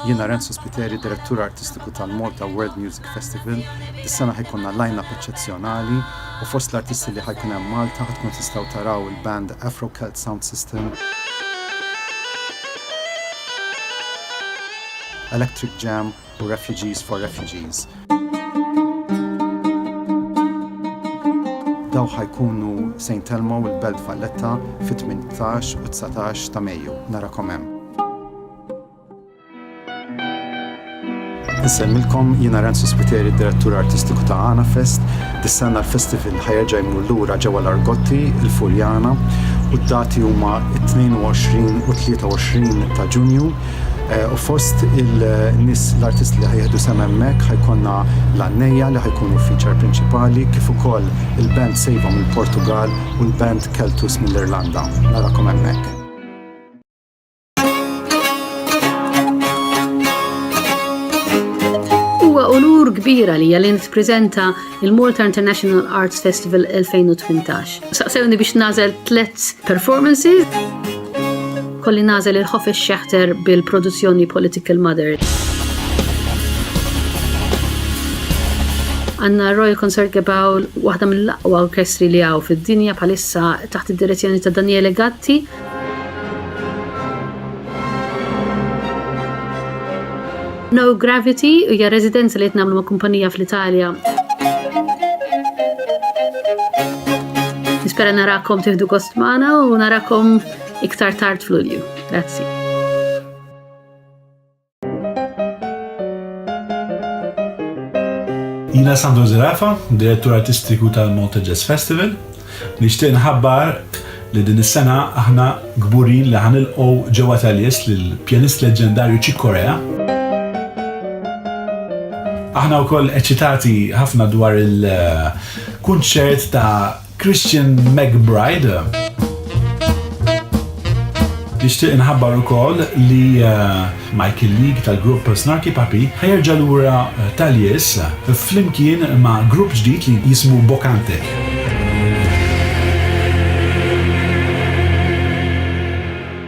Jiena Renzo Spiteri, Direttur Artistiku tal-Malta World Music Festival. Dis-sena ħa jkollna line-up eċċezzjonali u fost l-artisti li ħa jkun hemm Malta ħa tkunu tistgħu taraw il-band Afro-Celt Sound System, Electric Jam, u Refugees for Refugees. Dawn ħa jkunu se jintellmaw il-Belt Valletta fit-18 u 19 ta' Mejju. Narakom hemm. Insellmilkom, jiena Renzo Spiteri, Direttur Artistiku ta' Għana Fest. Dis-sena l-festival ħa jerġa' jmur lura ġewwa l-Argotti, il-Furjana, u d-dati huma t-22 u 23 ta' Ġunju. U fost il-nis l-artisti li ħajħdu sem hemmhekk ħajkonna l-għannejja li ħajkunu feature prinċipali kif ukoll il-band Sejva mill-Portugall u l-band Keltus mill-Irlanda. Narakom hemmhekk. Huwa unur kbir għalija li nippreżenta il-Malta International Arts Festival 2018. Saqsewni biex nażel tlet performances. Kolli nażel il-ħof xeħter bil-produzzjoni Political Mother. Għanna Royal Concert Gebawl, waħda mill-aqwa orkestri li għaw fid-dinja palissa taħt id-direzzjoni ta' Daniele Gatti, No Gravity hija residenza li qed nagħmlu ma' kumpanija fl-Italja. Nispera narakom tieħdu gost magħna u narakom iktar tard fl-Ulju. Grazzi. Jina Sandro Zerafa, direttur artistiku tal-Malta Jazz Festival, nixtieq nħabbar li din is-sena aħna kburin li ħanilqgħu ġewwa Taljes lill-pjanist leġġendarju Chick Corea. Aħna wkoll eċitati ħafna dwar il-kunċert ta' Christian McBride. Nixtieq inħabbar ukoll li eh, Michael League tal-grupp Snarky Papi ħajerġa lura eh, tal-Yes eh, flimkien ma' grupp ġdid li jismu Bokante.